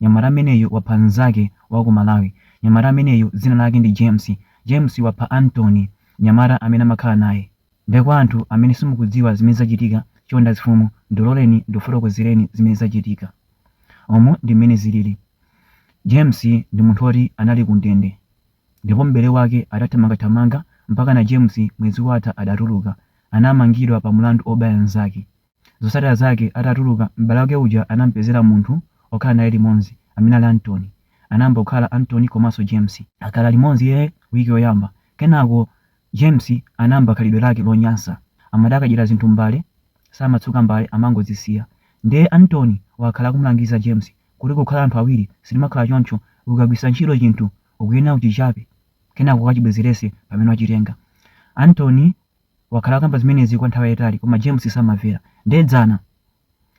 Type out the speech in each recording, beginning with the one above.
Nyamata ameneyu wapha nzake waku Malawi. Nyamata ameneyu dzina lake ndi James. James wapha Anthony nyamata amene amakhala naye. Nde kwa anthu amene simukudziwa zimene zachitika chonde azifumu ndiloleni ndikufotokozereni zimene zachitika. Umu ndi mmene zilili. James ndi munthu oti anali ku ndende. Ndipo m'bale wake adathamangathamanga mpakana James mwezi watha adatuluka. Anamangidwa pa mulandu obaya nzake. Zosatira zake atatuluka, m'bale wake uja anam'pezera munthu wokhala naye limodzi amene ali Anthony. Anayamba kukhala Anthony komanso James. Akhala limodzi wiki yoyamba, kenako James anayamba khalidwe lake lonyansa. Amati akadyera zinthu m'mbale, samatsuka mbale amangozisiya. Ndiye Anthony wakhala akumulangiza James kuti kukhala anthu awiri sitimakhala choncho, ukagwiritsa ntchito chinthu ukuyenera uchichape kenako ukachibwezeretse pamene wachitenga. Anthony. wakhala akamba zimenezi kwa nthawi yayitali koma James samamvera nde dzana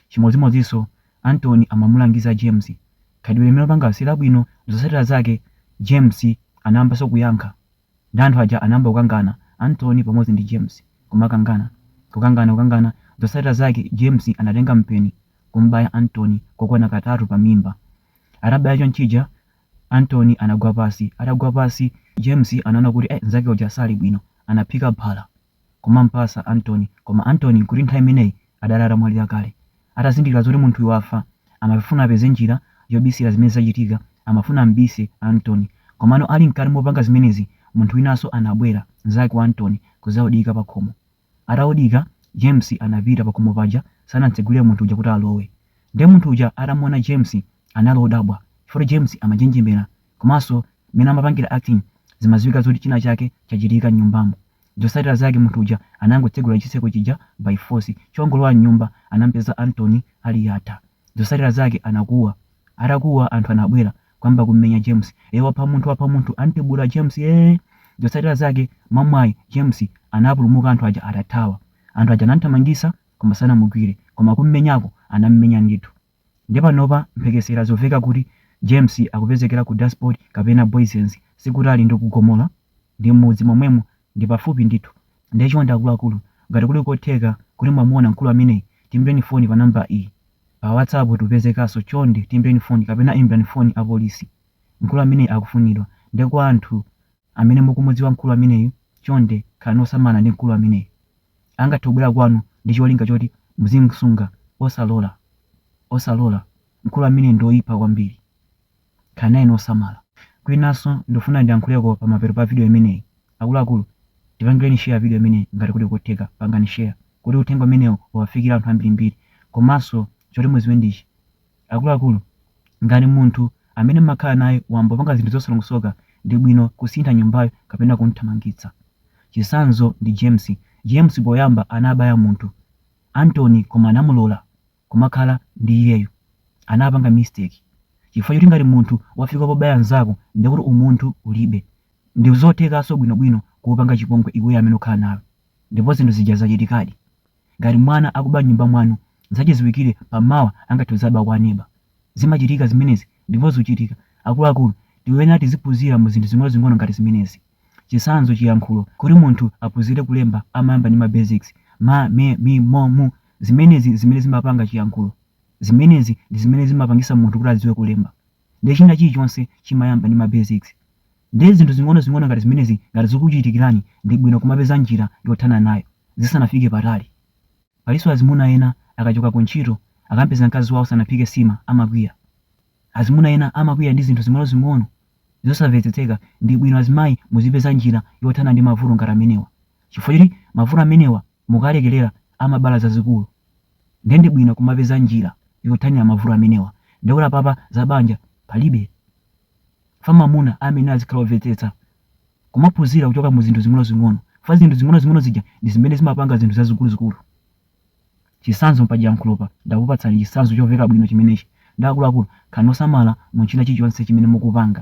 chimodzimodziso Anthony amamulangiza James khalidwe limene wapanga silabwino zosatila zake James anayambaso kuyankha nde anthu aja anayamba kukangana Anthony pamodzi ndi James kukangana kukangana kukangana zosatila zake James anatenga mpeni kum'baya Anthony kokwana katatu pamimba atabaya chonchija Anthony anagwa pasi. Atagwa pasi, James anaona kuti eh nzake uja sali bwino. Anaphika phala kumampasa Anthony. Koma Anthony nkuti nthawi imeneyi adali atamwalira kale. Atazindikira zoti munthuyu wafa, amafuna apeze njira yobisira zimene zachitika. Amafuna ambise Anthony. Komano ali mkati mopanga zimenezi, munthu winanso anabwera, nzake wa Anthony, kuzaudika pakhomo. Ataudika, James anapita pakhomo paja sanamtsegulire munthu uja kuti alowe. Nde munthu uja atamuona James anali odabwa chifukwa James amanjenjemera komanso mmene amapangira acting zimaziwika zoti china chake chachitika mnyumbamo. Zosatira zake munthu uja anangotsegula chitseko chija by force. Chongolowa mnyumba anampeza Anthony ali yatha. Zosatira zake anakuwa. Atakuwa anthu anabwera. kuyamba kummenya James, ee wapha munthu wapha munthu antibula James ee. Zosatira zake mwamwayi James anapulumuka anthu aja atathawa. Anthu aja anamthamangitsa koma sanamugwire koma kummenyako anammenya ndithu. Nde panopa mphekesera zoveka kuti James akupezekera ku Daspoort kapena Booysens sikutali ndi ku Gomora. ndi m'mudzi momwemo ndi pafupi ndithu nde chonde akuluakulu ngati kuli kotheka kuti mwamuona mkulu ameneyi tiimbireni foni pa number iyi pa whatsapp tupezekaso chonde tiimbireni foni kapena imbirani foni apolisi mkulu ameneyi akufunidwa nde kwa anthu amene mukumudziwa mkulu ameneyi chonde khalani osamala ndi mkulu ameneyi angathe kubwera kwanu ndi cholinga choti muzimsunga osalola osalola mkulu ameneyi ndi oipa kwambiri. Khalani naye osamala. Kwinaso ndufuna ndiyankhuleko pamapeto pa video imeneyi. Akuluakulu tipangileni share video imeneyi ngati kuli kotheka pangani share kuti uthenga umenewu uwafikile anthu ambirimbiri. Komaso choti muziwe ndichi akuluakulu ngati munthu amene mmakhala naye wayamba kupanga zinthu zosalongosoka ndibwino kusintha nyumbayo kapena kumthamangitsa. Chisanzo ndi James. James poyamba anabaya munthu, Anthony koma anamulola. kumakhala ndi iyeyo anapanga mistake chifukwa choti ngati munthu wafika pobaya nzako ndekuti umunthu ulibe ndizothekaso bwino bwino kukupanga chipongwe iweyo amene ukhala naye ndipo zinthu zija zachitikadi ngati mwana akuba mnyumba mwanu zachiziwikile pa mawa angathe kuzaba kwa aneba zimachitika zimenezi ndipo zuchitika akuluakulu tiyenera tiziphuzira mu zinthu zingonozingono ngati zimenezi. Chitsanzo, Chiyankhulo, Kuti munthu aphunzire kulemba amayamba ndi ma basics, ma, me, mi, mo, mu. Zimenezi ndi zimene zimapanga chiyankhulo. Zimenezi ndi zimene zimapangitsa munthu kuti adziwe kulemba. Ndiye china chilichonse chimayamba ndi ma basics. Ndiye zinthu zing'onozing'ono ngati zimenezi ngati zikukuchitikirani, ndi bwino kumapeza njira yothana nayo zisanafike patali. Palinso azimuna ena akachoka kuntchito, akam'peza mkazi wawo sanaphike nsima amakwiya. Azimuna ena amakwiya ndi zinthu zing'onozing'ono zosamvetsetseka. Ndi bwino azimayi muzipeza njira yothana ndi mavuto ngati amenewa chifukwa choti mavuto amenewa mukawalekerera amabala zazikulu nde ndi bwino kumapeza njira yothanira mavuto amenewa nde kuti apapa za banja palibe chifukwa mamuna amayenera azikhala omvetsetsa kumaphunzira kuchoka mu zinthu zing'onozing'ono chifukwa zinthu zing'onozing'ono zija ndi zimene zimapanga zinthu zazikuluzikulu. Chitsanzo pa chiyankhulopa ndakupatsani chitsanzo chomveka bwino chimenechi nde akuluakulu khalani osamala mu china chilichonse chimene mukupanga.